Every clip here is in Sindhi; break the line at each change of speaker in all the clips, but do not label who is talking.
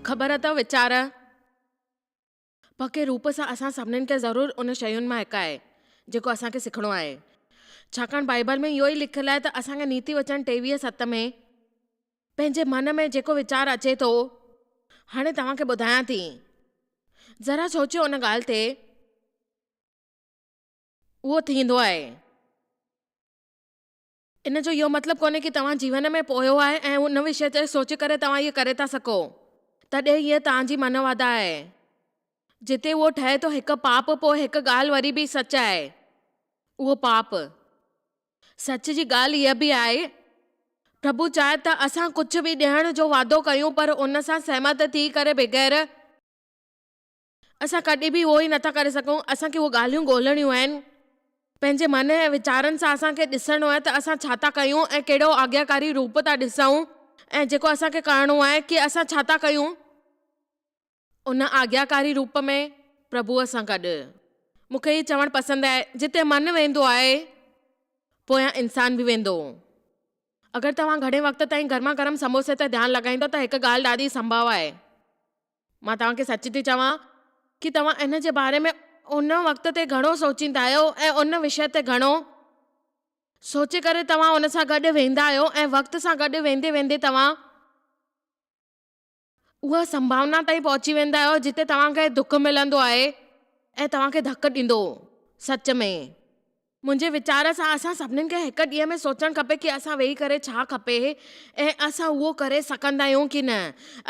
خبر اٿو ويچاره پڪي روپ سان اسان سڀنين کي ضرور ان شين مان هڪ آهي جيڪو اسان کي سکڻو آهي ڇاڪاڻ بائيبل ۾ اهو ئي لکيل آهي ته اسان کي نيتي وچن ٽيويهه ست ۾ پنهنجي من ۾ جيڪو ويچار اچي ٿو هاڻي توهان کي ٻڌايان ٿي ذرا سوچيو ان ڳالهه تي. اهو ٿيندو آهي. ان جو اهو مطلب ڪونهي ڪي توهان جيون ۾ پوئيو آهي ۽ ان وشيه تي سوچي ڪري توهان اهي ڪري ٿا سگهو. تڏهن هيء توهان جي من واڌا آهي. جتي اهو ٺهي ٿو هڪ پاپ پوء هڪ ڳالهه وري به سچ آهي. اهو پاپ. سچ جي ڳالهه هيء به آهي، پرڀو چاهي ته اسان ڪجهه به ڏيڻ جو وعدو ڪيون پر ان سان سهمت ٿي ڪري بغير. اسان ڪڏهن به اهو ئي نٿا ڪري سگهون. اسان کي اهي ڳالهيون ڳولهڻيون آهن. پنهنجي من ۽ ويچارن سان اسان کي ڏسڻو آهي ته اسان ڇا ٿا ڪيون ۽ ڪهڙو آگياڪاري روپ ٿا ڏسون ۽ جيڪو اسان کي ڪرڻو آهي ڪي اسان ڇا ٿا ڪيون ان آگياڪاري روپ ۾ پرڀوء سان گڏ. مون کي هي چوڻ پسند آهي، جتي من ويندو آهي، پويان انسان به ويندو. اگر توهان گهڻي وقت تائين گرما گرم سموسي تي ڌيان لڳائيندو ته هڪ ڳالهه ڏاڍي سنڀاوي آهي. مان توهان کي سچ ٿي چوان ڪي توهان ان جي باري ۾ ان وقت تي گهڻو سوچيندا آهيو ۽ ان وشيه تي گهڻو سوچي ڪري توهان ان سان گڏ ويندا آهيو ۽ وقت سان گڏ ويندي ويندي توهان اها سنڀاونا تائين پهچي ويندا آهيو جتي توهان کي دک ملندو آهي ۽ توهان کي ڌڪ ڏيندو سچ ۾ منهنجي ويچار سان اسان سڀني کي هڪ ڏينهن ۾ سوچڻ کپي ڪي اسان ويهي ڪري ڇا کپي ۽ اسان اهو ڪري سگهندا آهيون ڪي نه.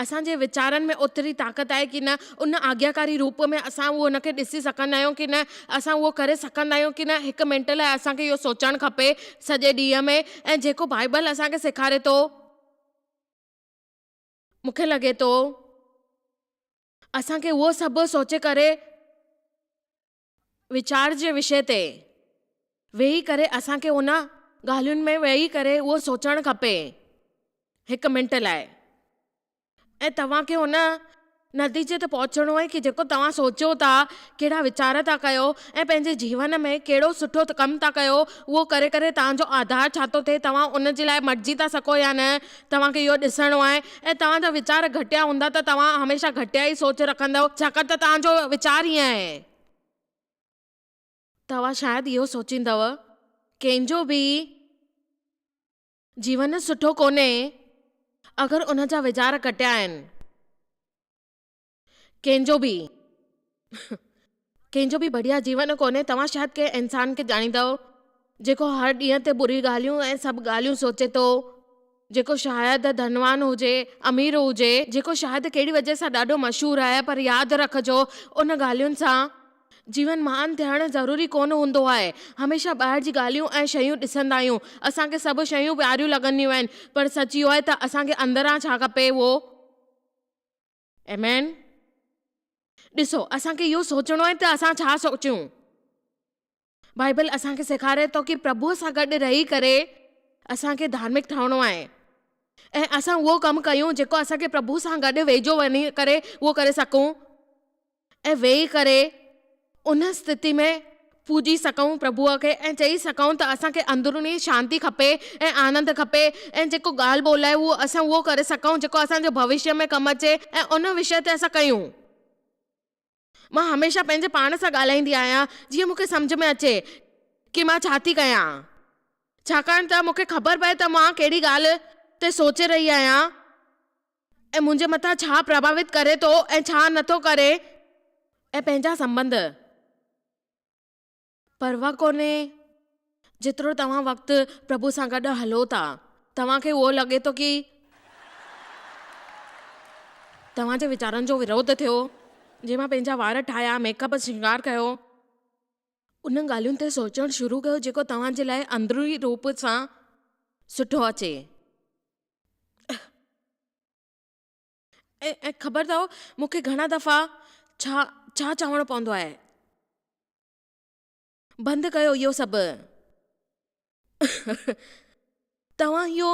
اسان جي ويچارن ۾ اوتري طاقت آهي ڪي نه، ان آجياڪاري روپ ۾ اسان اهو ان کي ڏسي سگهندا آهيون ڪي نه، اسان اهو ڪري سگهندا آهيون ڪي نه، هڪ منٽ لاء اسان کي اهو سوچڻ کپي سڄي ڏينهن ۾ ۽ جيڪو بائيبل اسان کي سيکاري ٿو مون کي لڳي ٿو اسان کي اهو سڀ سوچي ڪري ويچار جي وشي تي ويهي ڪري اسان کي ان ڳالهين ۾ ويهي ڪري اهو سوچڻ کپي هڪ منٽ لاء ۽ توهان کي ان نتيجي تي پهچڻو آهي ڪي جيڪو توهان سوچيو ٿا ڪهڙا ويچار ٿا ڪيو ۽ پنهنجي جيون ۾ ڪهڙو سٺو ڪم ٿا ڪيو اهو ڪري ڪري توهان جو آڌار ڇا ٿو ٿئي توهان ان جي لاء مٽجي ٿا سگهو يا نه توهان کي اهو ڏسڻو آهي ۽ توهان جا ويچار گهٽيا هوندا ته توهان هميشه گهٽيا ئي سوچ رکندؤ ڇاڪاڻ ته توهان جو ويچار ئي ائين آهي. توهان شايد اهو سوچيندؤ ڪنهن جو به جيون سٺو ڪونهي اگر ان جا ويچار گهٽيا آهن. ڪنهن جو به ڪنهن جو به بڙيا جيون ڪونهي، توهان شايد ڪنهن انسان کي ڄاڻيندؤ، جيڪو هر ڏينهن تي بري ڳالهيون ۽ سڀ ڳالهيون سوچي ٿو، جيڪو شايد ڌنوان هجي، امير هجي، جيڪو شايد ڪهڙي وجهه سان ڏاڍو مشهور آهي، پر ياد رکجو ان ڳالهين سان جيون مهان ٿيڻ ضروري ڪونه هوندو آهي، هميشه ٻاهر جي ڳالهيون ۽ شيون ڏسندا آهيون، اسان کي سڀ شيون پياريون لڳنديون آهن، پر سچ اهو آهي ته اسان کي اندران ڇا کپي اهو. ايم اين، ڏسو اسان کي اهو سوچڻو آهي ته اسان ڇا سوچيون. بائيبل اسان کي سيکاري ٿو ڪي پرڀوء سان گڏ رهي ڪري اسان کي ڌارمڪ ٺهڻو آهي ۽ اسان اهو ڪم ڪيون جيڪو اسان کي پرڀوء سان گڏ ويجهو وڃي ڪري اهو ڪري سگهون. ۽ ويهي ڪري ان استٿي ۾ پوڄي سگهون پرڀوء کي ۽ چئي سگهون ته اسان کي اندروني شانتي کپي ۽ آنند کپي ۽ جيڪو ڳالهه ٻولهه آهي اهو اسان اهو ڪري سگهون جيڪو اسان جي ڀوشيء ۾ ڪم اچي ۽ ان وشيه تي اسان ڪيون. مان هميشه پنهنجي پاڻ سان ڳالهائيندي آهيان جيئن مون کي سمجهه ۾ اچي ڪي مان ڇا ٿي ڪيان ڇاڪاڻ ته مون کي خبر پئي ته مان ڪهڙي ڳالهه تي سوچي رهي آهيان. ۽ منهنجي مٿان ڇا پرڀاوت ڪري ٿو ۽ ڇا نه ٿو ڪري ۽ پنهنجا سنٻنڌ. پرواهه ڪونهي جيترو توهان وقت پرڀو سان گڏ هلو ٿا توهان کي اهو لڳي ٿو ڪي توهان جي ويچارن جو وروڌ ٿيو جي مان پنهنجا وار ٺاهيا ميڪ اپ سنگار ڪيو انهن ڳالهين تي سوچڻ شروع ڪيو جيڪو توهان جي لاء اندروني روپ سان سٺو اچي. ۽ خبر اٿو مون کي گهڻا دفعا ڇا ڇا چوڻو پوندو آهي. بند ڪيو اهو سڀ. توهان اهو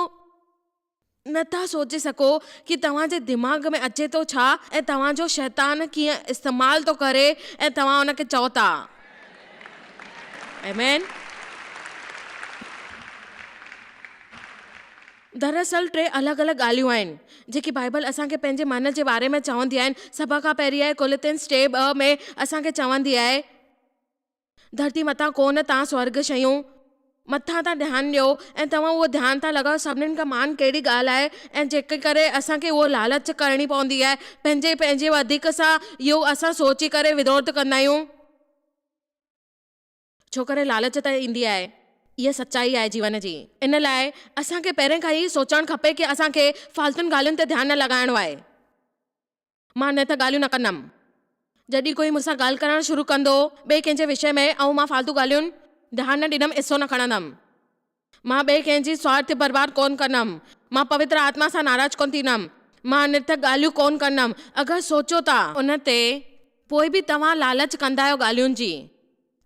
نه ٿا سوچي سگهو ته توهان جي دماغ ۾ اچي ٿو ڇا ۽ توهان جو شيطان ڪيئن استعمال ٿو ڪري ۽ توهان ان کي چئو ٿا. آمين. دراصل ٽي الڳ الڳ ڳالهيون آهن، جيڪي بائيبل اسان کي پنهنجي من جي باري ۾ چوندي آهي. سڀ کان پهرين آهي ڪولوتنس ٽي ٻه ۾ اسان کي چوندي آهي، ڌرتي مٿان ڪونه تان سورڳ شيون مٿان تان ڌيان ڏيو ۽ توهان اهو ڌيان تان لڳايو سڀني کان مهان ڪهڙي ڳالهه آهي ۽ جنهن ڪري اسان کي اهو لالچ ڪرڻي پوندي آهي پنهنجي پنهنجي وڌيڪ سان اهو اسان سوچي ڪري وروڌ ڪندا آهيون. ڇوڪري لالچ تي ايندي آهي. اها سچائي آهي جيون جي. ان لاء اسان کي پهرين کان هي سوچڻ کپي ڪي اسان کي فالتون ڳالهين تي ڌيان نه لڳائڻو آهي. مان نت ڳالهيون نه ڪندم. جڏهن ڪوئي مون سان ڳالهه ڪرڻ شروع ڪندو ٻئي ڪنهن جي وشي ۾ ۽ مان فالتو ڳالهيون ڌيان نه ڏيندم حصو نه کڻندم. مان ٻئي ڪنهن جي سوارٿ جي پرواهه ڪونه ڪندم. مان پوتر آتما سان ناراض ڪونه ٿيندم. مان انرٿڪ ڳالهيون ڪونه ڪندم. اگر سوچيو ٿا. ان تي، پوء به توهان لالچ ڪندا آهيو ڳالهين جي.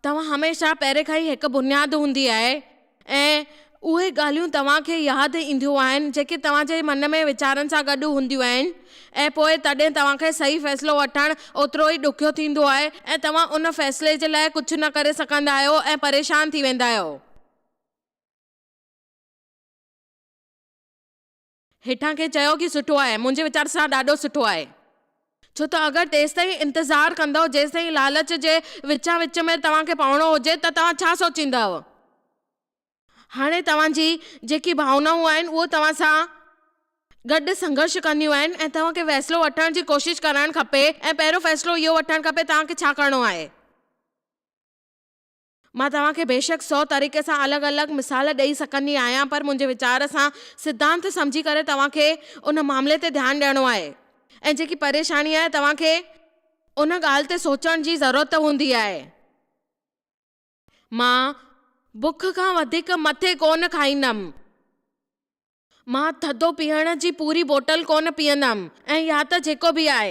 توهان هميشه پهرين کان ئي هڪ بنياد هوندي آهي ۽ اهي ڳالهيون توهان کي ياد اينديون آهن جيڪي توهان جي من ۾ ويچارن سان گڏ هونديون آهن ۽ پوء تڏهن توهان کي صحيح فيصلو وٺڻ اوترو ئي ڏکيو ٿيندو آهي ۽ توهان ان فيصلي جي لاء ڪجهه نه ڪري سگهندا آهيو ۽ پريشان ٿي ويندا آهيو. هيٺان ڪنهن چيو ڪي سٺو آهي. منهنجي ويچار سان ڏاڍو سٺو آهي. ڇو ته اگر تيستائين انتظار ڪندؤ جيستائين لالچ جي وچان وچ ۾ توهان کي پوڻو هجي ته توهان ڇا سوچيندؤ. هاڻي توهان جي جيڪي ڀاونائون آهن اهو توهان سان گڏ سنگهرش ڪنديون آهن ۽ توهان کي فيصلو وٺڻ جي ڪوشش ڪرڻ کپي ۽ پهريون فيصلو اهو وٺڻ کپي توهان کي ڇا ڪرڻو آهي. مان توهان کي بيشڪ سو طريقي سان الڳ الڳ مثال ڏئي سگهندي آهيان پر منهنجي ويچار سان سڌانت سمجهي ڪري توهان کي ان معاملي تي ڌيان ڏيڻو آهي ۽ جيڪي پريشاني آهي توهان کي ان ڳالهه تي سوچڻ جي ضرورت هوندي آهي. مان بک کان وڌيڪ مٿي ڪونه کائيندم. مان ٿڌو پيئڻ جي پوري بوٽل ڪونه پيئندم ۽ يا ته جيڪو به آهي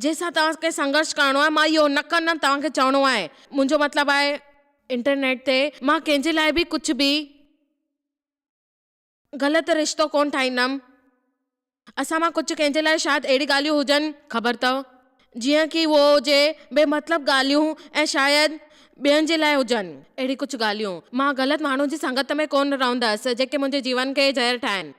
جنهن سان توهان کي سنگهرش ڪرڻو آهي مان اهو نه ڪندم توهان کي چوڻو آهي منهنجو مطلب آهي انٽرنيٽ تي مان ڪنهن جي لاء به ڪجهه به غلط رشتو ڪونه ٺاهيندم. اسان مان ڪجهه ڪنهن جي لاء شايد اهڙي ڳالهيون هجن، خبر ته جيئن ڪي اهو هجي، بي مطلب ڳالهيون ۽ شايد ٻين جي لاء هجن اهڙي ڪجهه ڳالهيون. مان غلط ماڻهن جي سنگت ۾ ڪونه رهندس جيڪي منهنجي جيون کي زهر ٺاهين.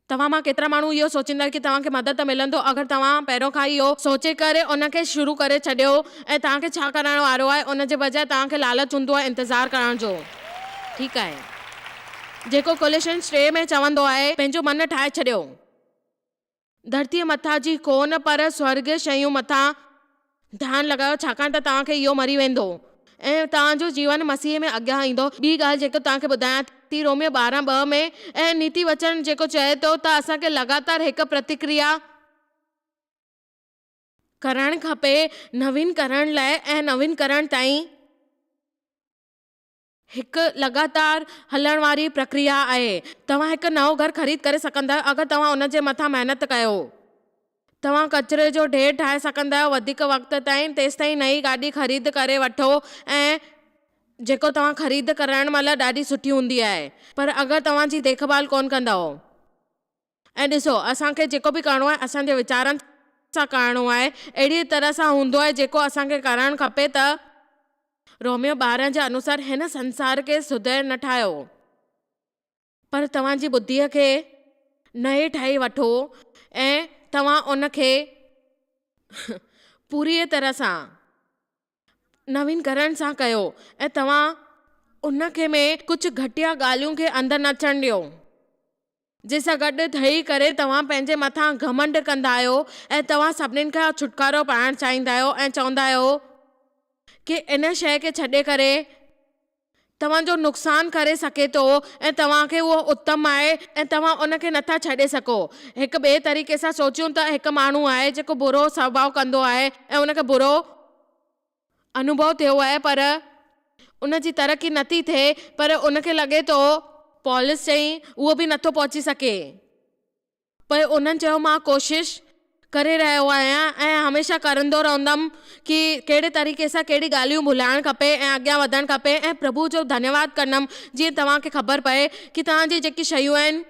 توهان مان ڪيترا ماڻهو اهو سوچيندا ڪي توهان کي مدد ته ملندو اگر توهان پهريون کان ئي اهو سوچي ڪري ان کي شروع ڪري ڇڏيو ۽ توهان کي ڇا ڪرائڻ وارو آهي ان جي بجاء توهان کي لالچ هوندو آهي انتظار ڪرڻ جو ٺيڪ آهي. جيڪو ڪوليشنز ٽي ۾ چوندو آهي، پنهنجو من ٺاهي ڇڏيو. ڌرتيء مٿان جي ڪونه پر سورڳيه شيون مٿان ڌيان لڳايو ڇاڪاڻ ته توهان کي اهو مري ويندو ۽ توهان جو جيون مسيح ۾ اڳيان ايندو. ٻي ڳالهه جيڪو توهان کي ٻڌايان ٿي روميو ٻارهن ٻه ۾ اهي نيتي وچن جيڪو چئي ٿو ته اسان کي لڳاتار هڪ پرتڪريا ڪرڻ کپي نوين ڪرڻ لاء ۽ نوين ڪرڻ تائين. هڪ لڳاتار هلڻ واري پرڪريا آهي. توهان هڪ نئون گهر خريد ڪري سگهندا اگر توهان ان جي مٿان محنت ڪيو. توهان ڪچري جو ڍير ٺاهي سگهندا آهيو وڌيڪ وقت تائين تيستائين نئين گاڏي خريد ڪري وٺو ۽ جيڪو توهان خريد ڪرڻ مهل ڏاڍي سٺي هوندي آهي پر اگر توهان جي ديکڀال ڪونه ڪندائو. ۽ ڏسو، اسان کي جيڪو به ڪرڻو آهي، اسان جي ويچارن سان ڪرڻو آهي، اهڙيء طرح سان هوندو آهي، جيڪو اسان کي ڪرڻ کپي ته. روميو ٻارهن جي انوسار هن سنسار کي سڌير نه ٺاهيو هو، پر توهان جي ٻڌيء کي نئين ٺاهي وٺو ۽ توهان ان کي پوريء طرح سان. نوين ڪرڻ سان ڪيو ۽ توهان ان کي ۾ ڪجهه گهٽيا ڳالهيون کي اندر نه اچڻ ڏيو جنهن سان گڏ ٺهي ڪري توهان پنهنجي مٿان گهمنڊ ڪندا آهيو ۽ توهان سڀني کان ڇوٽڪارو پائڻ چاهيندا آهيو ۽ چوندا آهيو ڪي ان شيء کي ڇڏي ڪري توهان جو نقصان ڪري سگهي ٿو ۽ توهان کي اهو اتم آهي ۽ توهان ان کي نٿا ڇڏي سگهو. هڪ ٻئي طريقي سان سوچيون ته هڪ ماڻهو آهي جيڪو برو سڀاء ڪندو آهي ۽ ان کي برو انوڀو ٿيو آهي پر ان جي ترقي نٿي ٿئي پر ان کي لڳي ٿو. پولس چيائين، اهو به نٿو پهچي سگهي. پوء انهن چيو مان ڪوشش ڪري رهيو آهيان ۽ هميشه ڪرندو رهندم ڪي ڪهڙي طريقي سان ڪهڙي ڳالهيون ڀلائڻ کپي ۽ اڳيان وڌڻ کپي ۽ پرڀو جو ڌنيواد ڪندم جيئن توهان کي خبر پئي ڪي توهان جي جيڪي شيون آهن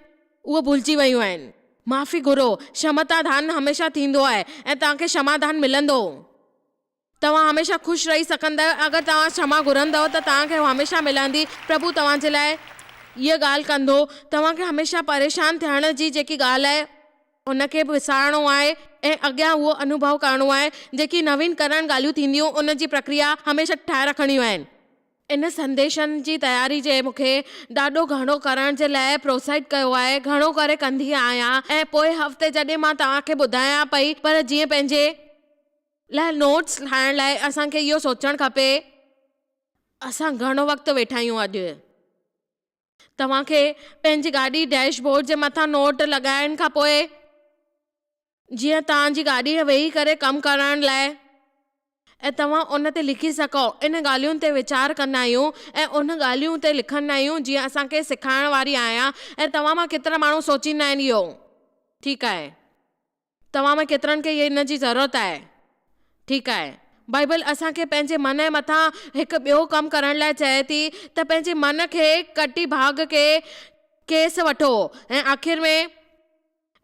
اهي ڀلجي ويون آهن. معافي گهرو شمتا ڌان هميشه ٿيندو آهي ۽ توهان کي شما ڌان ملندو. توهان هميشه خوش رهي سگهندا آهيو اگر توهان ڇما گهرندؤ ته توهان کي اها هميشه ملندي. پرڀو توهان جي لاء اها ڳالهه ڪندو. توهان کي هميشه پريشان ٿيڻ جي جيڪي ڳالهه آهي. ان کي وسارڻو آهي ۽ اڳيان اهو انوڀو ڪرڻو آهي. جيڪي نوين ڪرڻ ڳالهيون ٿينديون ان جي پرڪريا هميشه ٺاهي رکڻيون آهن. ان سنديشن جي تياري جي مون کي ڏاڍو گهڻو ڪرڻ جي لاء پروتساهت ڪيو آهي. گهڻو ڪري ڪندي آهيان ۽ پوء هفتي جڏهن مان توهان کي ٻڌايان پئي پر جيئن پنهنجي. لاء نوٽس ٺاهڻ لاء اسان کي اهو سوچڻ کپي اسان گهڻو وقت ويٺا آهيون اڄ توهان کي پنهنجي گاڏي ڊيش بورڊ جي مٿان نوٽ لڳائڻ کان پوء جيئن توهان جي گاڏي ويهي ڪري ڪم ڪرڻ لاء ۽ توهان ان تي لکي سگهو ان ڳالهين تي ويچار ڪندا آهيون ۽ ان ڳالهين تي لکندا آهيون جيئن اسان کي سيکارڻ واري آهيان ۽ توهان مان ڪيترا ماڻهو سوچيندا آهن اهو ٺيڪ آهي توهان مان ڪيترن کي ان جي ضرورت آهي؟ ٺيڪ آهي. بائيبل اسان کي پنهنجي من ۽ مٿان هڪ ٻيو ڪم ڪرڻ لاء چئي ٿي ته پنهنجي من کي ڪٽي ڀاڳ ڪي کيس وٺو ۽ آخر ۾.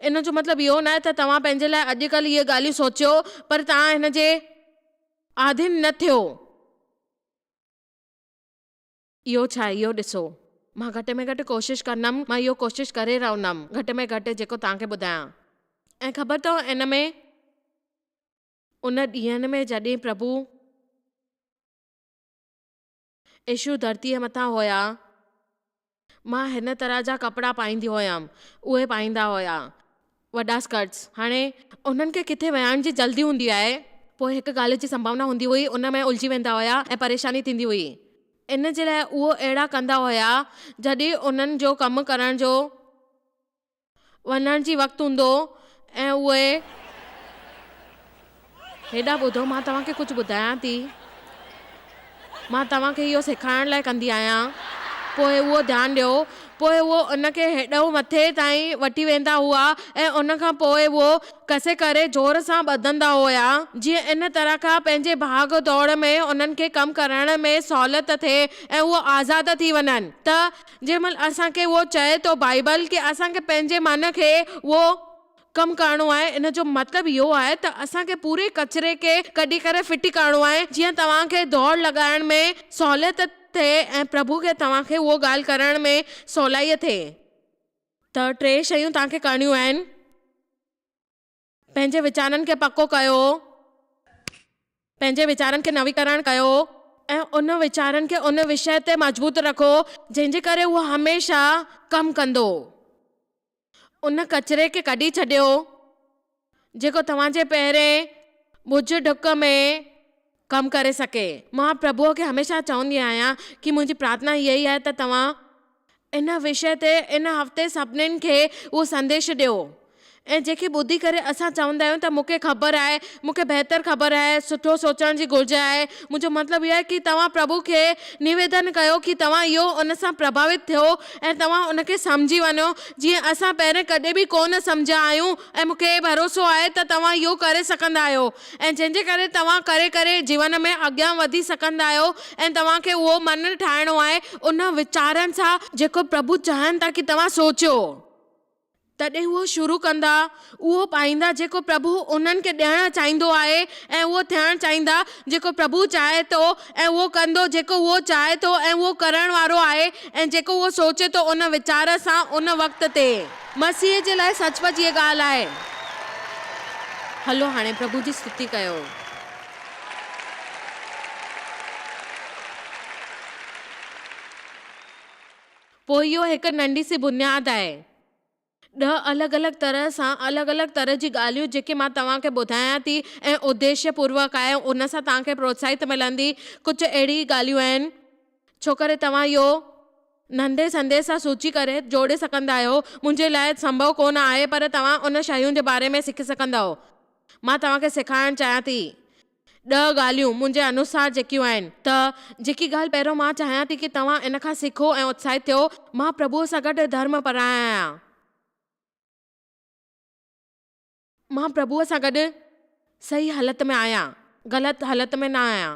ان جو مطلب اهو ناهي ته توهان پنهنجي لاء اڄڪلهه اهي ڳالهيون سوچيو پر توهان هن جي آڌين نه ٿيو. اهو ڇا آهي اهو ڏسو. مان گهٽ ۾ گهٽ ڪوشش ڪندم. مان اهو ڪوشش ڪري رهندم گهٽ ۾ گهٽ جيڪو توهان کي ٻڌايان. ۽ خبر اٿئو ان ۾ ان ڏينهن ۾ جڏهن پرڀو عيشو ڌرتيء مٿان هيا مان هن طرح جا ڪپڙا پائيندي هيم اهي پائيندا هيا وڏا اسڪرٽس هاڻي انهن کي ڪٿي ويهائڻ جي جلدي هوندي آهي پوء هڪ ڳالهه جي سنڀاونا هوندي هئي ان ۾ الجهي ويندا هيا ۽ پريشاني ٿيندي هئي ان جي لاء اهو اهڙا ڪندا هيا جڏهن انهن جو ڪم ڪرڻ جو وڃڻ جي وقت هوندو ۽ اهي هيڏانهن ٻڌو، مان توهان کي ڪجهه ٻڌايان ٿي. مان توهان کي اهو سيکارڻ لاء ڪندي آهيان. پوء اهو ڌيان ڏيو. پوء اهو ان کي هيڏانهن مٿي تائين وٺي ويندا هئا ۽ ان کان پوء اهو ڪسي ڪري زور سان ٻڌندا هيا، جيئن ان طرح کان پنهنجي ڀاڳ ڊوڙ ۾ انهن کي ڪم ڪرڻ ۾ سهولت ٿئي ۽ اهي آزاد ٿي وڃن. ته جنهن مهل اسان کي اهو چئي ٿو بائبل ڪي اسان کي پنهنجي من کي اهو ڪم ڪرڻو آهي ان جو مطلب اهو آهي ته اسان کي پوري ڪچري کي ڪڍي ڪري ڦٽي ڪرڻو آهي جيئن توهان کي دوڙ لڳائڻ ۾ سهوليت ٿئي ۽ پرڀو کي توهان کي اهو ڳالهه ڪرڻ ۾ سولائي ٿئي ته ٽي شيون توهان کي ڪرڻيون آهن پنهنجي ويچارن کي پڪو ڪيو پنهنجي ويچارن کي نويڪرڻ ڪيو ۽ ان ويچارن کي ان وشي تي مضبوط رکو جنهن جي ڪري اهو هميشه ڪم ڪندو ان ڪچري کي ڪڍي ڇڏيو، جيڪو توهان جي پهرين ٻج ڍڪ ۾ ڪم ڪري سگهي. مان پرڀوء کي هميشه چوندي آهيان ڪي منهنجي پرارٿنا اها ئي آهي ته توهان ان وشي تي ان هفتي سڀني کي اهو سنديش ڏيو ۽ جنهن کي ٻڌي ڪري اسان چوندا آهيون ته مون کي خبر آهي، مون کي بهتر خبر آهي، سٺو سوچڻ جي گهرج آهي. منهنجو مطلب اهو آهي ڪي توهان پرڀوء کي نيويدن ڪيو ڪي توهان اهو ان سان پرڀاوت ٿيو، ۽ توهان ان کي سمجهي وڃو جيئن اسان پهرين ڪڏهن به ڪو نه سمجهيا آهيون ۽ مون کي هي ڀروسو آهي ته توهان اهو ڪري سگهندا آهيو ۽ جنهن جي ڪري توهان ڪري ڪري جيون ۾ اڳيان وڌي سگهندا آهيو ۽ توهان کي اهو من ٺاهڻو آهي ان ويچارن سان جيڪو پرڀو چاهين ٿا ڪي توهان سوچيو. تڏهن هو شروع ڪندا اهو پائيندا جيڪو پرڀو انهن کي ڏيڻ چاهيندو آهي ۽ اهو ٿيڻ چاهيندا جيڪو پرڀو چاهي ٿو ۽ اهو ڪندو جيڪو هو چاهي ٿو ۽ اهو ڪرڻ وارو آهي ۽ جيڪو هو سوچي ٿو ان ويچار سان ان وقت تي. مسيح جي لاء سچ پچ هيء ڳالهه آهي. هلو هاڻي پرڀو جي استوتي ڪيو. پوء اهو هڪ ننڍي سي بنياد آهي. ڏهه الڳ الڳ طرح سان الڳ الڳ طرح جي ڳالهيون جيڪي مان توهان کي ٻڌايان ٿي ۽ اديشيه پوروڪ آهي ان سان توهان کي پروتساهت ملندي ڪجهه اهڙي ئي ڳالهيون آهن ڇوڪري توهان اهو ننڍي سنديس سان سوچي ڪري جوڙي سگهندا آهيو منهنجي لاء سنڀو ڪو نه آهي پر توهان ان شيون جي باري ۾ سکي سگهندؤ مان توهان کي سيکارڻ چاهيان ٿي ڏهه ڳالهيون منهنجي انوسار جيڪيون آهن ته جيڪي ڳالهه پهريون مان چاهيان ٿي ڪي توهان ان کان سکو ۽ اتساهت ٿيو، مان پرڀوء سان گڏ ڌرم پرايان آهيان. مان پرڀوء سان گڏ صحيح هلت ۾ آهيان، غلط هلت ۾ نه آهيان.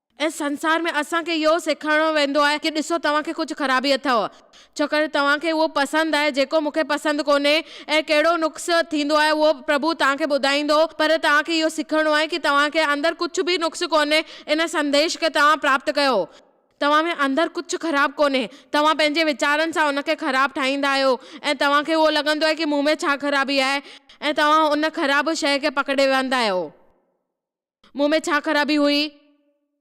ان سنسار ۾ اسان کي اهو سيکاريو ويندو آهي ڪي ڏسو توهان کي ڪجهه خرابي اٿئو ڇوڪر توهان کي اهو پسند آهي جيڪو مون کي پسند ڪونهي ۽ ڪهڙو نقص ٿيندو آهي اهو پرڀو توهان کي ٻڌائيندو پر توهان کي اهو سکڻو آهي ڪي توهان کي اندر ڪجهه به نقص ڪونهي ان سنديش کي توهان پراپت ڪيو توهان ۾ اندر ڪجهه خراب ڪونهي توهان پنهنجي ويچارن سان ان کي خراب ٺاهيندا آهيو ۽ توهان کي اهو لڳندو آهي ڪي مون ۾ ڇا خرابي آهي ۽ توهان ان خراب شيء کي پڪڙي ويهندا آهيو. مون ۾ ڇا خرابي هئي؟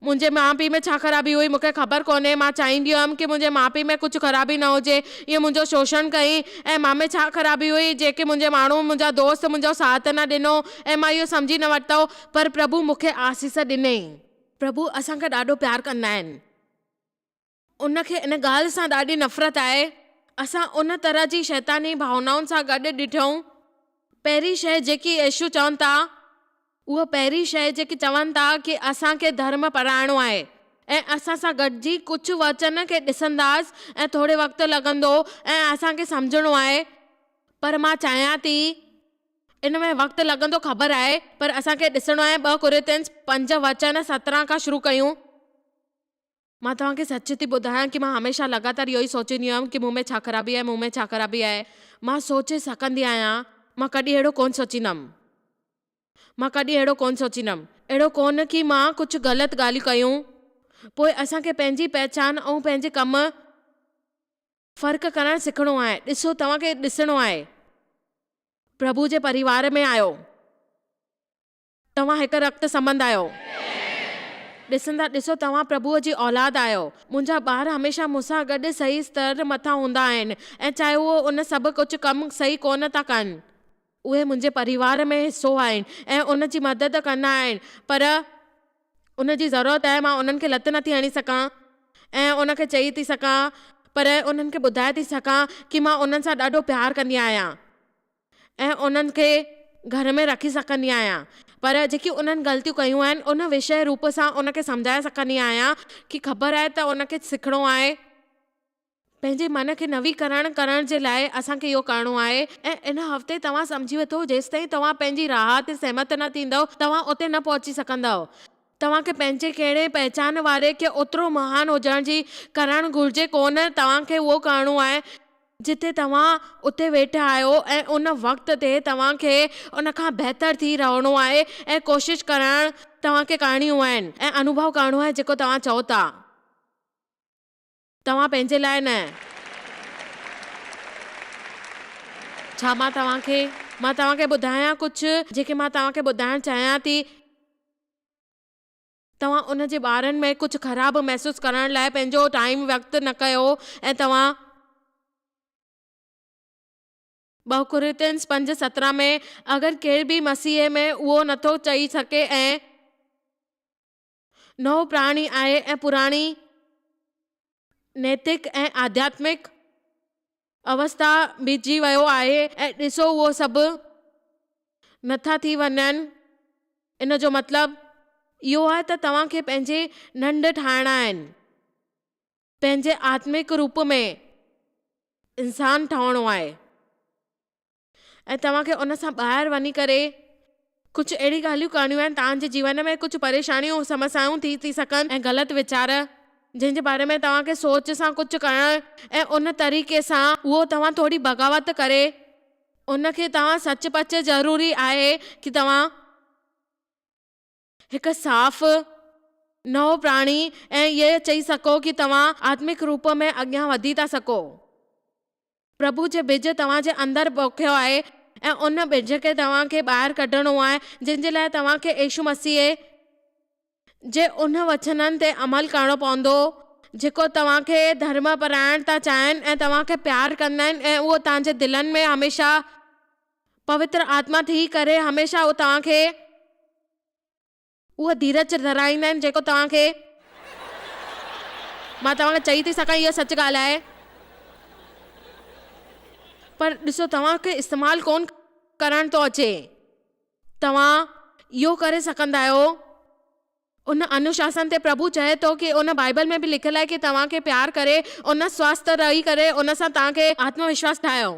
منهنجي ماء پيء ۾ ڇا خرابي هئي؟ مونکي خبر ڪونهي. مان چاهيندي هئم ڪي منهنجي ماء پيء ۾ ڪجهه خرابي نه هجي. اهي منهنجو شوشڻ ڪيئين ۽ مان ۾ ڇا خرابي هئي جنهن کي منهنجي ماڻهو، منهنجا دوست منهنجو ساٿ نه ڏنو ۽ مان اهو سمجهي نه ورتو. پر پرڀو مونکي آسيس ڏني. پرڀو اسان کي ڏاڍو پيار ڪندا آهن. ان کي ان ڳالهه سان ڏاڍي نفرت آهي. اسان ان طرح جي شيطاني ڀاونائن سان گڏ ڏٺئون. پهرين شيء جيڪي يسوع چون ٿا، اها پهرين شيء جيڪي چون ٿا ڪي اسان کي ڌرم پرائڻو آهي ۽ اسان سان گڏجي ڪجهه وچن کي ڏسنداس ۽ ٿوري وقت لڳندو ۽ اسان کي سمجهڻو آهي پر مان چاهيان ٿي ان ۾ وقت لڳندو خبر آهي پر اسان کي ڏسڻو آهي ٻه ڪورنٿينس پنج وچن سترهن کان شروع ڪيون. مان توهان کي سچ ٿي ٻڌايان ڪي مان هميشه لڳاتار اهو ئي سوچيندي هيم ڪي مون ۾ ڇا خرابي آهي، مون ۾ ڇا خرابي آهي. مان سوچي سگهندي آهيان. مان ڪڏهن اهڙو ڪونه سوچيندم. مان ڪڏهن اهڙو ڪونه سوچيندم. اهڙو ڪونه ڪي مان ڪجهه غلط ڳالهيون ڪيون. پوء اسان کي پنهنجي پهچان ۽ پنهنجي ڪم ۾ فرق ڪرڻ سکڻو آهي. ڏسو توهان کي ڏسڻو آهي. پرڀو جي پريوار ۾ آهيو. توهان هڪ رت سمند آهيو. ڏسندا ڏسو توهان پرڀوء جي اولاد آهيو. منهنجا ٻار هميشه مون سان گڏ صحيح ستر مٿان هوندا آهن ۽ چاهي هو ان سڀ ڪجهه ڪم صحيح ڪونه ٿا ڪن. اهي منهنجي پريوار ۾ حصو آهن ۽ ان جي مدد ڪندا آهن پر ان جي ضرورت آهي مان انهن کي لت نٿي هڻي سگهان ۽ ان کي چئي ٿي سگهان پر انهن کي ٻڌائي ٿي سگهان ڪي مان انهن سان ڏاڍو پيار ڪندي آهيان. ۽ انهن کي گهر ۾ رکي سگهندي آهيان پر جيڪي انهن غلطيون ڪيون آهن ان وشيه روپ سان ان کي سمجهائي سگهندي آهيان ڪي خبر آهي ته ان کي سکڻو آهي. پنهنجي من کي نويڪرڻ ڪرڻ جي لاء اسان کي اهو ڪرڻو آهي ۽ ان هفتي توهان سمجهي وٺو جيستائين توهان پنهنجي راهه تي سهمت نه ٿيندؤ توهان اتي نه پهچي سگهندؤ. توهان کي پنهنجي ڪهڙي پهچان واري کي اوترو مهان هجڻ جي ڪرڻ گهرجي ڪونه توهان کي اهو ڪرڻو آهي. جتي توهان اتي ويٺا آهيو ۽ ان وقت تي توهان کي ان کان بهتر ٿي رهڻو آهي ۽ ڪوشش ڪرڻ توهان کي ڪرڻيون آهن ۽ انوڀو ڪرڻو آهي جيڪو توهان چئو ٿا توهان پنهنجي لاء نه ڇا مان توهان کي مان توهان کي ٻڌايان ڪجهه جيڪي مان توهان کي ٻڌائڻ چاهيان ٿي. توهان ان جي ٻارن ۾ ڪجهه خراب محسوس ڪرڻ لاء پنهنجو ٽائيم وقت نه ڪيو ۽ توهان ٻه ڪورنٿينس پنج سترهن ۾ اگر ڪير به مسيح ۾ اهو نٿو چئي سگهي ۽ نئون پراڻي آهي ۽ پراڻي نيتڪ ۽ آڌياتمڪ اوستا ڀيٽجي ويو آهي ۽ ڏسو اهو سڀ نٿا ٿي وڃن، ان جو مطلب اهو آهي ته توهان کي پنهنجي ڍنڍ ٺاهڻا آهن، پنهنجي آتمڪ روپ ۾ انسان ٺهڻو آهي. ۽ توهان کي ان سان ٻاهر وڃي ڪري ڪجهه اهڙي ڳالهيون ڪرڻيون آهن تان جي جيون ۾ ڪجهه پريشانيون سمسيائون ٿي ٿي سگهن ۽ غلط ويچار جنهن جي باري ۾ توهان کي سوچ سان ڪجهه ڪرڻ ۽ ان طريقي سان اهو توهان ٿوري بغاوت ڪري ان کي توهان سچ پچ ضروري آهي ڪي توهان. هڪ صاف، نئون پراڻي ۽ اهي چئي سگهو ڪي توهان آتمڪ روپ ۾ اڳيان وڌي ٿا سگهو. پرڀو جي ٻج توهان جي اندر پوکيو آهي ۽ ان ٻج کي توهان کي ٻاهر ڪڍڻو آهي جنهن جي لاء توهان کي عيشو مسيح جي انهن وچنن تي عمل ڪرڻو پوندو جيڪو توهان کي ڌرم پرائڻ ٿا چاهين ۽ توهان کي پيار ڪندا آهن ۽ اهو توهان جي دلن ۾ هميشه پوتر آتما ٿي ڪري هميشه هو توهان کي اهو ڌيرج ڏيرائيندا آهن جيڪو توهان کي مان توهان کي چئي ٿي سگهان اها سچ ڳالهه آهي پر ڏسو توهان کي استعمال ڪونه ڪرڻ ٿو اچي توهان اهو ڪري سگهندا آهيو ان انوشاسن تي پرڀو چئي ٿو ڪي ان بائيبل ۾ به لکيل آهي ڪي توهان کي پيار ڪري ان سواست رهي ڪري ان سان توهان کي آتم وشواس ٺاهيو.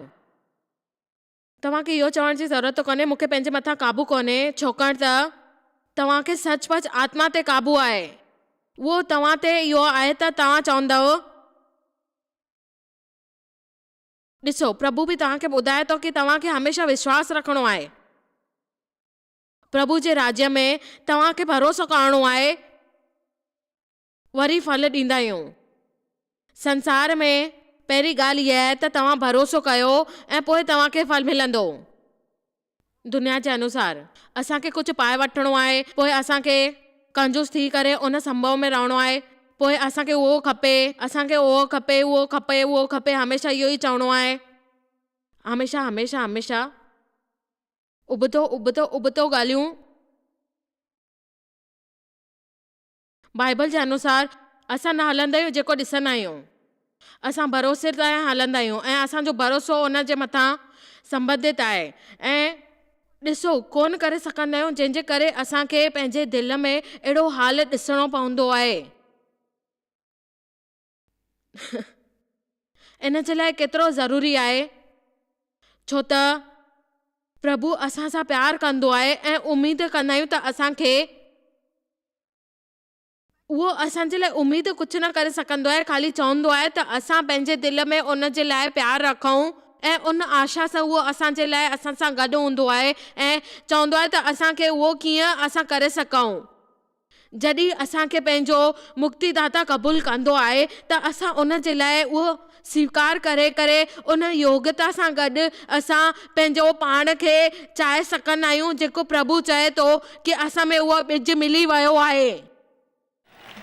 توهان کي اهو چوڻ جي ضرورت ته ڪونهي، مون کي پنهنجي مٿان قابو ڪونهي، ڇوڪڻ ته توهان کي سچ پچ آتما تي قابو آهي. اهو توهان تي اهو آهي ته توهان چوندؤ. ڏسو، پرڀو به توهان کي ٻڌائي ٿو ڪي توهان کي هميشه وشواس رکڻو آهي. پرڀو جي راڄ ۾ توهان کي ڀروسو ڪرڻو آهي. وري ڦل ڏيندا آهيون. سنسار ۾ پهرين ڳالهه هيء آهي ته توهان ڀروسو ڪيو ۽ پوء توهان کي ڦل ملندو. دنيا جي انوسار اسان کي ڪجهه پائي وٺڻو آهي، پوء اسان کي ڪنجوس ٿي ڪري ان سنڀو ۾ رهڻو آهي، پوء اسان کي اهو کپي، اسان کي اهو کپي، اهو کپي، اهو کپي، هميشه اهو ئي چوڻو آهي. هميشه، هميشه، هميشه ابتو، ابتو، ابتو ڳالهيون. بائيبل جي انوسار، اسان نه هلندا آهيون جيڪو ڏسندا آهيون. اسان ڀروسي تان هلندا آهيون ۽ اسان جو ڀروسو ان جي مٿان سنبڌت آهي ۽ ڏسو ڪونه ڪري سگهندا آهيون جنهن جي ڪري اسان کي پنهنجي دل ۾ اهڙو حال ڏسڻو پوندو آهي. ان جي لاء ڪيترو ضروري آهي ڇو ته پرڀو اسان سان پيار ڪندو آهي ۽ اميد ڪندا آهيون ته اسان کي اهو اسان جي لاء اميد ڪجهه نه ڪري سگهندو آهي خالي چوندو آهي ته اسان پنهنجي دل ۾ ان جي لاء پيار رکون ۽ ان آشا سان اهو اسان جي لاء اسان سان گڏ هوندو آهي ۽ چوندو آهي ته اسان کي اهو ڪيئن اسان ڪري سگهون. جڏهن اسان کي پنهنجو مڪتيداتا قبول ڪندو آهي ته اسان ان جي لاء اهو سويڪار ڪري ڪري ان يوگتا سان گڏ اسان پنهنجو پاڻ کي چاهي سگهندا آهيون جيڪو پرڀو چاهي ٿو ڪي اسان ۾ اهو ٻج ملي ويو آهي.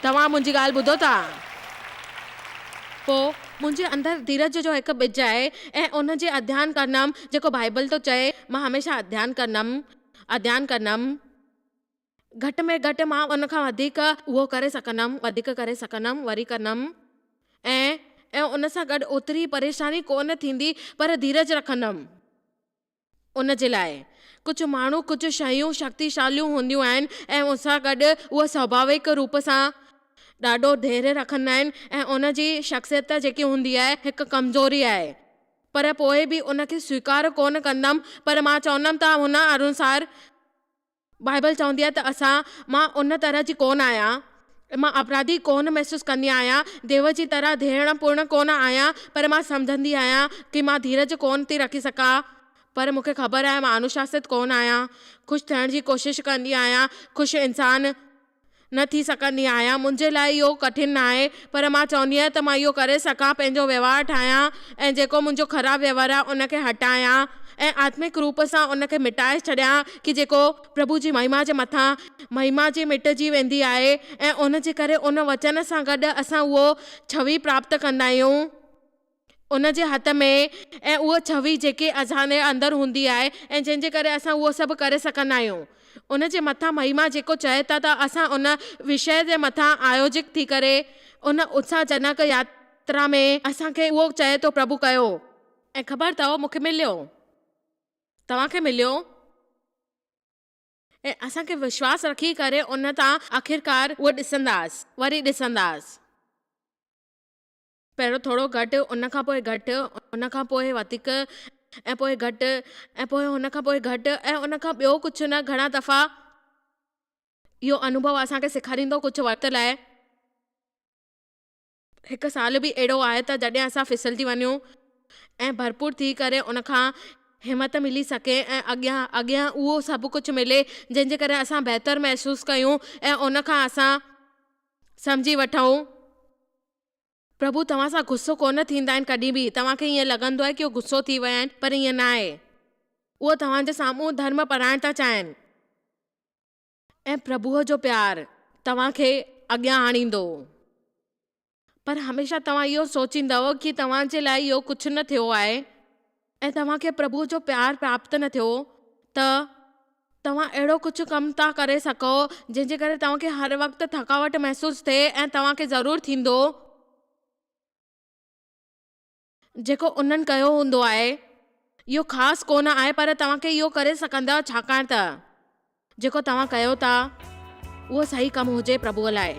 توهان منهنجي ڳالهه ٻڌو ٿا؟ پوء منهنجي اندر ڌيرج جو هڪ ٻج آهي ۽ ان جي اڌيان ڪندم جيڪو بائيبل ٿو چئي مان هميشه اڌيان ڪندم اڌيان ڪندم. گهٽ ۾ گهٽ مان ان کان وڌيڪ اهو ڪري سگهندم، وڌيڪ ڪري سگهندم، وري ڪندم ۽ ۽ ان سان گڏ اوتري پريشاني ڪو نه ٿيندي پر ڌيرج رکندم. ان جي لاء ڪجهه ماڻهو، ڪجهه شيون شڪتيشاليون هونديون آهن ۽ ان سان گڏ اهي سواڀاويڪ روپ سان ڏاڍو ڌيري رکندا آهن ۽ ان جي شخصيت جيڪي هوندي آهي هڪ ڪمزوري آهي پر پوء به ان کي سويڪار ڪو نه ڪندم پر مان چوندم ته هن انوسار بائيبل چوندي آهي ته اسان، مان ان طرح جي ڪونه آهيان. مان اپراڌي ڪونه محسوس ڪندي آهيان. ديو جي طرح ڌيڻ پورڻ ڪونه آهيان، پر مان سمجهندي آهيان ڪي مان ڌيرج ڪونه ٿي رکي سگهان. پر مون کي خبر آهي مان انوشاسيت ڪونه آهيان. خوش ٿيڻ جي ڪوشش ڪندي آهيان. خوش انسان. نه ٿي سگهندي آهيان. منهنجي لاء اهو ڪٺن ناهي، پر مان چوندي آهيان ته مان اهو ڪري سگهان، پنهنجو وهنوار ٺاهيان ۽ جيڪو منهنجو خراب وهنوار آهي ان کي هٽايان ۽ آتمڪ روپ سان ان کي مٽائي ڇڏيان ڪي جيڪو پرڀو جي مهما جي مٿان مهما جي مٽجي ويندي آهي ۽ ان جي ڪري ان وچن سان گڏ اسان اهو ڇوهي پراپت ڪندا آهيون. ان جي هٿ ۾ ۽ اها ڇوي جيڪي اذان جي اندر هوندي آهي ۽ جنهن جي ڪري اسان اهو سڀ ڪري سگهندا آهيون. ان جي مٿان مهما جيڪو چئي ٿا ته اسان ان وشيه جي مٿان آيوجڪ ٿي ڪري ان اتساهه جنڪ ياترا ۾ اسان کي اهو چئي ٿو پرڀو ڪيو. ۽ خبر اٿئو مون کي مليو توهان کي مليو ۽ اسان کي وشواس رکي ڪري ان تان آخرڪار اهو ڏسنداس وري ڏسنداس. پهريون ٿورو گهٽ، ان کان پوء گهٽ، ان کان پوء وڌيڪ ۽ پوء گهٽ ۽ پوء ان کان پوء گهٽ ۽ ان کان ٻيو ڪجهه نه گهڻا دفعا. اهو انوڀو اسان کي سيکاريندو ڪجهه وقت لاء. هڪ سال به اهڙو آهي ته جڏهن اسان ڦسلجي وڃون ۽ ڀرپور ٿي ڪري ان کان همت ملي سگهي ۽ اڳيان اڳيان اهو سڀ ڪجهه ملي جنهن جي ڪري اسان بهتر محسوس ڪيون ۽ ان کان اسان سمجهي وٺون پرڀو توهان سان غصو ڪونه ٿيندا آهن ڪڏهن به توهان کي ائين لڳندو آهي ڪي هو غصو ٿي ويا آهن پر ائين نه آهي اهو توهان جي سامهون ڌرم پرائڻ ٿا چاهين ۽ پرڀوء جو پيار توهان کي اڳيان آڻيندو پر هميشه توهان اهو سوچيندؤ ڪي توهان جي لاء اهو ڪجهه نه ٿيو آهي. ۽ توهان کي پرڀو جو پيار پراپت نه ٿيو ته توهان اهڙو ڪجهه ڪم ٿا ڪري سگهو جنهن جي ڪري توهان کي هر وقت ٿڪاوٽ محسوس ٿئي ۽ توهان کي ضرور ٿيندو جيڪو انهن ڪيو هوندو آهي. اهو خاص ڪونه آهي پر توهان کي اهو ڪري سگهندا ڇاڪاڻ ته. جيڪو توهان ڪيو ٿا اهو صحيح ڪم هجي پرڀوء لاء.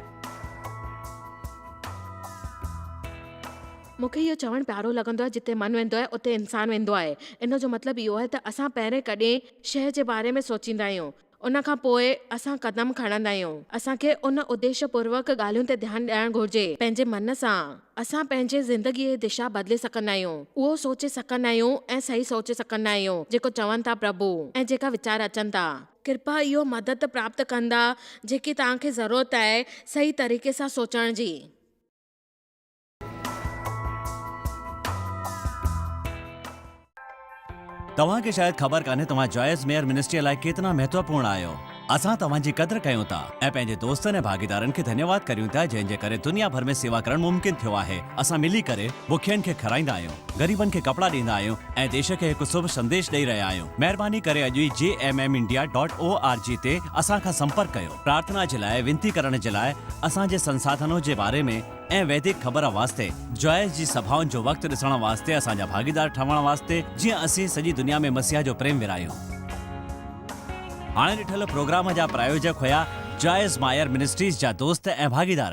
مون کي اهو چوڻ پيارو لڳندو آهي جتي من ويندو آهي اتي انسان ويندو آهي. ان جو مطلب اهو آهي ته اسان پهرين ڪڏهن شيء جي باري ۾ سوچيندا آهيون ان کان پوء اسان قدم کڻندا آهيون. اسان کي ان اديش پوروڪ ڳالهين تي ڌيان ڏيڻ گهرجي پنهنجي من سان. اسان پنهنجي زندگيء جي دشا بدلي سگهندا آهيون، اهو سوچي سگهندا آهيون ۽ صحيح سوچي سگهندا آهيون جيڪو چون ٿا پرڀو ۽ جيڪا ويچار اچن ٿا. ڪرپا اهو مدد پراپت ڪندا جيڪي توهان کي ضرورت آهي صحيح طريقي سان سوچڻ جي.
توهان کي شايد خبر ڪانهي توهان جائز ميئر منسٽريء لاء ڪيترا مهتوپورڻ آهيو. اسان توهان جي قدر ڪيون ٿا ۽ پنهنجي دوستن ۽ ڀاڳيدارن کي ڌنيواد ڪريون ٿا جنهن جي ڪري دنيا ڀر ۾ سيوا ڪرڻ ممڪن ٿيو آهي. اسان ملي ڪري بکين کي کارائيندا آهيون، غريبن کي ڪپڙا ڏيندا آهيون ۽ ديش کي هڪ سڀ سنديش ڏئي رهيا آهيون. مهرباني ڪري اڄ ئي G M M India dot O R G تي اسان کان سمپرڪ ڪيو. پرارٿنا جي لاء، وينتي ڪرڻ جي لاء، اسان جي سنساڌنو جي باري ۾، ۽ ويدڪ خبر واسطي، جوائس جي سڀائن جو وقت ڏسڻ واسطي اسان جا ڀاڳيدار ٺهڻ واسطي جيئن اسين سڄي دنيا ۾ مسيح جو پريم ورهايون. هاڻي ڏٺل پروگرام جا پرايوجڪ هيا جوائس مائر منسٽريز جا دوست ۽ ڀاڳيدار.